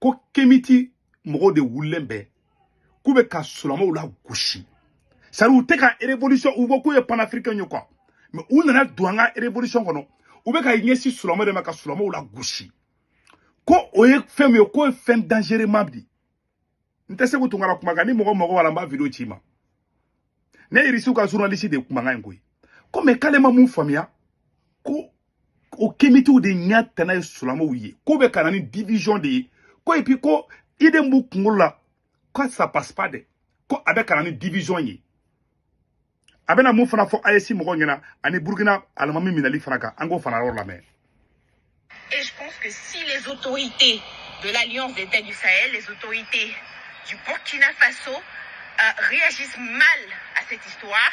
ko kemiti mɔgɔw de wulilen bɛ k'u bɛ ka sulamaw lagosi c'est-à-dire u tɛ ka révolution u ko k'u ye panafricain ye quoi mais u nana don an ka révolution kɔnɔ u bɛ ka ɲɛsin sulama de ma ka sulamaw lagosi ko o ye fɛn min ye k'o ye fɛn dangereuxman ye n tɛ se k'u tunkara kuma kan ni mɔgɔ mago b'a la n b'a video ci ma ne irisiw ka journaliste de ye kumakan in koyi ko mais k'ale ma mun faamuya ko o kemitiw de ɲɛ tana ye sulamaw ye k'o bɛ ka na ni division de ye ko et puis ko idée min b'u kunkolo la ko ça passe pas dɛ ko a bɛ ka na ni division ye a bɛna mun fana fɔ AES mɔgɔw ɲɛna ani Burkina alimami minɛli fana kan an k'o fana yɔrɔ lamɛn. Et je pense que si les autorités de l'Alliance des États du Sahel, les autorités du Burkina Faso euh, réagissent mal à cette histoire,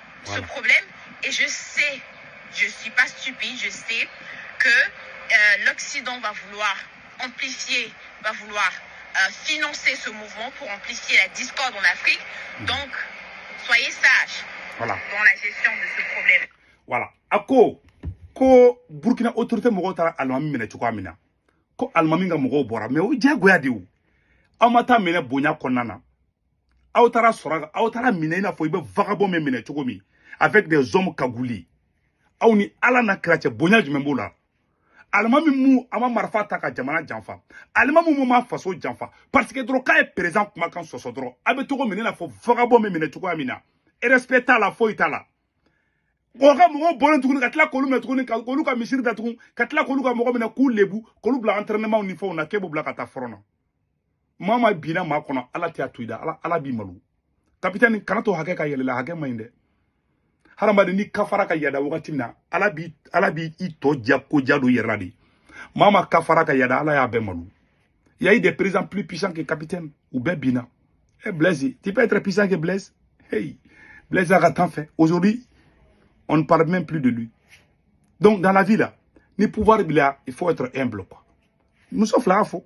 ce problème et je sais, je ne suis pas stupide, je sais que euh, l'Occident va vouloir amplifier, va vouloir euh, financer ce mouvement pour amplifier la discorde en Afrique. Mhm. Donc, soyez sages dans la gestion de ce problème. Voilà. A ko, ko Burkina autorité mɔgɔw taara alimami minɛ cogoya min na ko alimami ka mɔgɔw bɔra mais o diyagoya de o aw ma taa minɛ bonya kɔnɔna na aw taara sɔrɔ aw taara minɛ i n'a fɔ i bɛ vagabond min minɛ cogo min avec des hommes cagoulés aw ni ala n'a kira cɛ bonya jumɛn b'o la alimami mu a ma marifa ta ka jamana janfa alimami mu ma faso janfa parce que dɔrɔn k'a ye président kumakan sɔsɔ dɔrɔn a bɛ taa k'o minɛ i n'a fɔ vagabond min minɛ cogoya min na respect t'a la foyi t'a la o ka mɔgɔw bɔlen tuguni ka tila k'olu minɛ tuguni ka olu ka misiri datugu ka tila k'olu ka mɔgɔ minɛ k'u lebu k'olu bila entraînement ni fɛnw na k'e b'u bila ka taa front na maa maa binna maa kɔnɔ ala tɛ a to i da ala ala b'i malo kapitɛni kana to hakɛ ka yɛlɛ i la hakɛ man ɲi dɛ hadamaden ni kafara ka yada wagati min na ala b'i ala b'i tɔ ja ko ja don i yɛrɛ la de maa maa kafara ka yada ala y'a bɛɛ malo il y a eu des présidents plus puissants que capitaine u bɛɛ binna e eh, blaise tu peux être puissant que blaise hey blaise a ka temps fɛ aujourd'hui on ne parle même plus de lui donc dans la vie là ni pouvoir b'i la il faut être humble quoi muso fila y'a fɔ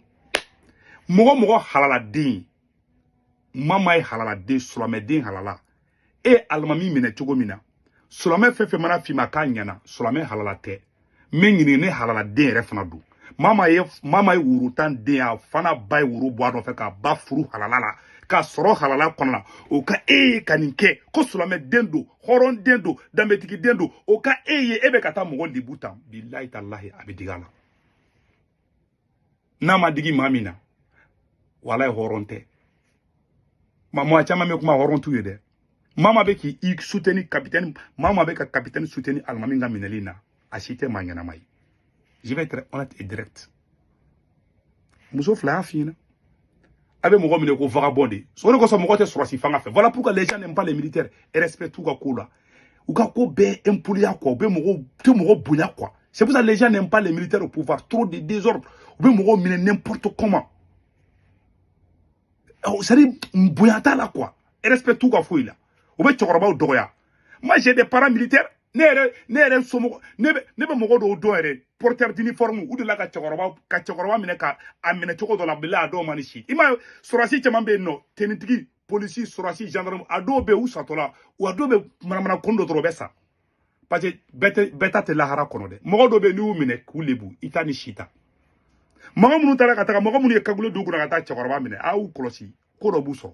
mɔgɔ mɔgɔ halaladen maa maa ye halaladen sulamɛden halala e ye alimami minɛ cogo min na sulamɛ fɛn fɛn mana f'i ma k'a ɲɛna sulamɛ halala tɛ n bɛ ɲininka ne halaladen yɛrɛ fana don maa maa ye maa maa ye woro tan den a fa n'a ba ye woro bɔ a nɔfɛ k'a ba furu halala la k'a sɔrɔ halala kɔnɔ la o ka e ye ka nin kɛ ko silamɛ den don hɔrɔn den don danbetigi den don o ka e ye e bɛ ka taa mɔgɔ lebu tan bilahi talahi a bɛ digi a la n'a ma digi maa min na walayi hɔrɔn tɛ ma mɔgɔ caman bɛ kuma hɔrɔn t'u ye dɛ maa o maa bɛ k'i soutenir capitaine maa o maa bɛ ka capitaine soutenir alimami ka minɛli na a si tɛ maa ɲɛnama ye je vais être honnête et direct muso fila y'a f'i ɲɛna a bɛ mɔgɔ minɛ ko vagabond de o de kosɔn mɔgɔ tɛ sɔrɔsi fanga fɛ voilà pourquoi les gens n'aiment pas les militaires respect t'u ka ko la u ka ko bɛɛ impoliya quoi u bɛ mɔgɔw tɛ mɔgɔ bonya quoi c'est pour ça les gens n'aiment pas les militaires au pouvoir trop de désordre u bɛ mɔgɔw minɛ n'importe comment c'est à dire bonya t'a la quoi respect t'u ka foyi la u bɛ cɛkɔrɔbaw dɔgɔya moi j'ai des parents militaires ne yɛrɛ ne yɛrɛ somɔgɔ ne bɛ ne bɛ mɔgɔ dɔw dɔn yɛrɛ porteur d'uniforme u delila ka cɛkɔrɔba ka cɛkɔrɔba minɛ ka a minɛ cogo dɔ la bila a dɔw ma ni si i ma sɔrɔsi caman bɛ yen nɔ tenitigi polisi sɔrɔsi gendarme a dɔw bɛ yen u satɔla a dɔw bɛ manamana kun dɔ dɔrɔn bɛ sa parce que bɛɛ tɛ bɛɛ ta tɛ lahara kɔnɔ dɛ mɔgɔ dɔw bɛ yen n'i y'u minɛ k'u lebu i t'a ni si ta mɔgɔ minnu taara ka taga mɔgɔ minnu ye cagoule don kun na ka taa cɛkɔrɔba minɛ a y'u kɔlɔsi ko dɔ b'u sɔrɔ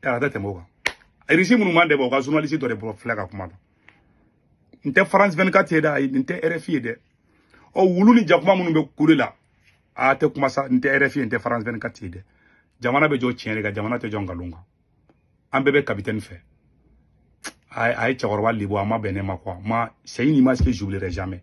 kalo tɛ tɛmɛ o kan irisi minnu man dɛbɛ o ka journaliste dɔ de bɔ filɛ ka kuma la n tɛ france 24 ye dɛ n tɛ rfi ye dɛ ɔ wulu ni jakuma minnu bɛ kule la a tɛ kuma sa n tɛ rfi n tɛ france 24 ye dɛ jamana bɛ jɔ tiɲɛ de kan jamana tɛ jɔ nkalon kan an bɛɛ bɛ capitaine fɛ a ye cɛkɔrɔba lebu a ma bɛn ne ma quoi moi c'est une image que j'oublierai jamais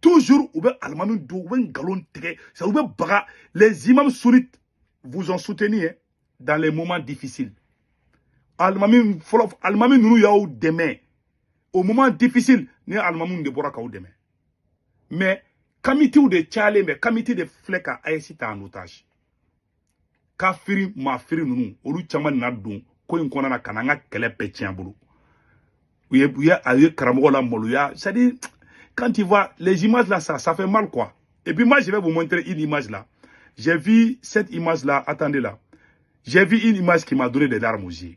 toujours ou bien alimami don ou bien nkalontigɛ c'est ou bien baga les imams sunnites vous ont soutenu hein, dans les moments difficiles alimami fɔlɔ alimami ninnu y'aw dɛmɛ au moment difficile ni alimami ninnu de bɔra k'aw dɛmɛ mais kamitiw de cayalen bɛ kamiti de filɛ ka AES ta en otage kafiri mafiri ninnu olu caman nana don ko in kɔnɔna na ka na an ka kɛlɛ bɛɛ tiɲɛ an bolo u ye u ye a ye karamɔgɔ lamaloya c'est à dire quand tu vois les images là ça ça fait mal quoi et puis moi je vais vous montrer une image là j'ai vu cette image là attendez là j'ai vu une image qui m'a donné des larmes aux yeux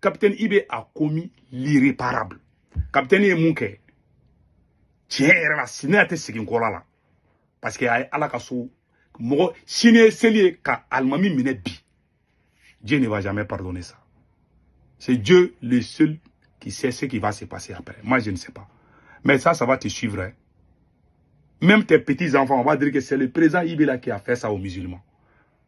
capitaine IB a commis l'irréparable capitaine ye mun kɛ tiɲɛ yɛrɛ la sini a tɛ segin kɔla la parce que a ye ala ka so mɔgɔ sini ye seli ye ka alimami minɛ bi dieu ne va jamais pardonner ça c'est dieu le seul qui sait ce qui va se passer après moi je ne sais pas mais ça ça va te suivre hein. même tes petits enfants on va dire que c'est le président IB là qui a fait ça aux musulmans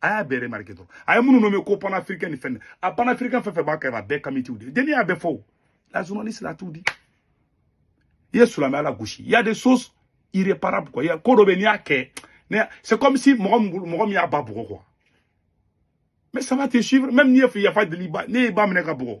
a y'a bɛɛ remarqué dɔrɔn a ye minnu nommé ko panafricain ni fɛn a panafricain fɛn fɛn b'a kɛrɛfɛ a bɛɛ kamitiw de den in y'a bɛɛ fɔ la journaliste l'a tout dit i ye silamɛya lagosi il y a des choses irréparables quoi il y a ko dɔ bɛ n'i y'a kɛ c'est comme si mɔgɔ min mɔgɔ min y'a ba bugɔ quoi mais ça va te suivre même n'i ye yafa deli i ba n'i y'i ba minɛ ka bugɔ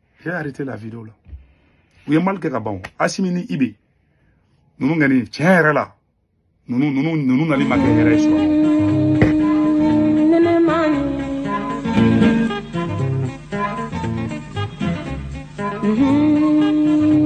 J'ai arrêté la vidéo là. U ye mal kɛ ka ban o. Asimi ni Ibe. Ninnu kɔni tiɲɛ yɛrɛ la. Ninnu ninnu ninnu nali ma kɛ hɛrɛ ye sɔrɔ. Mm-hmm.